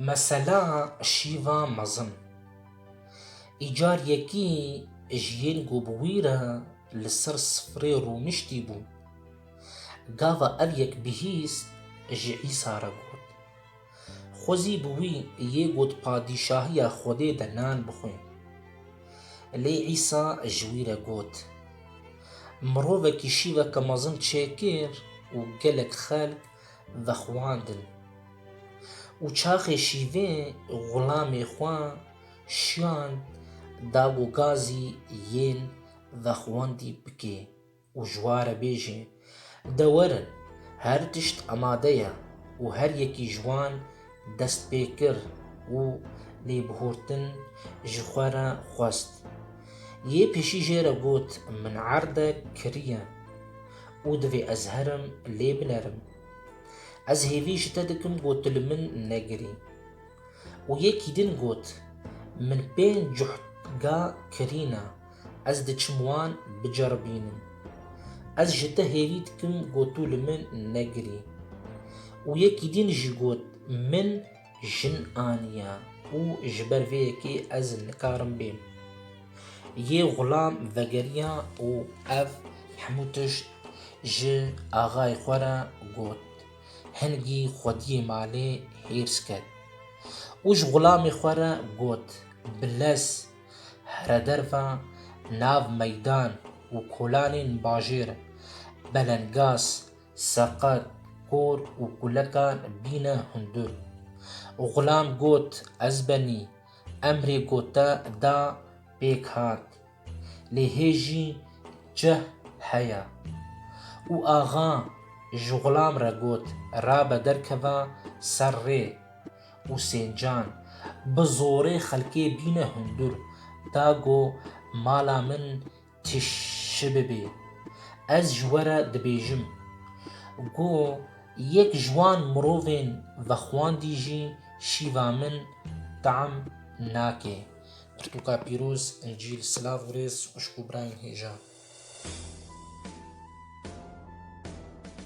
Mesela şîva mezin. Îcar yekî ji yên ku bi wî re li ser sifrê rûniştî bûn. Gava ev yek bihîst ji Îsa re got. Xwezî bi wî yê got Padîşahiya Xwedê de nan bixwin. Lê Îsa ji wî re got, Mirovekî şîveke mezin çêkir û gelek xelk vexwandin. Û çaxê şîvê xulamê xwe şiyand da ku gazî yên vexwendî bike. Û ji wan re bêjin, De werin, her tişt amade ye û her yekî ji wan dest pê kir û lêbihurtin ji xwe re xwest. Yê pêşî jê re got, Min erde kiriye û divê ez herim lê binerim. Ez hêvî ji te dikim ku tu li min negirî. Û yekî din got, Min pênc cuhd ga kirî ne. Ez diçim wan biceribînim. Ez ji te hêvî dikim ku tu li min negirî. Û yekî din jî got, Min jin aniye û ji ber vê yekê ez nikarim bêm. Yê xulam vegeriya û ev hemû tişt ji axayê xwe re got. Hingî xwediyê malê hêrs ket û ji xulamê xwe re got, Bilez! Here derva nav meydan û kolanên bajêr, Belengaz, Seqet, Kor û Kulekan bîne hundur. Xulam got ez benî, emrê gote da pêk hat. Lê hê jî cih heye. Û axa ji xulam re got rabe derkeva ser rê. Husên Can, Bi zorê xelkê bîne hundur, da go mala min tişi bibê. Ez ji we re dibêjim. Go yek ji wan mirovên vexwandî jî şîva min team nake. Pirtûka pîroz, Încîl Silav û rêz xwişk û birayên hêja.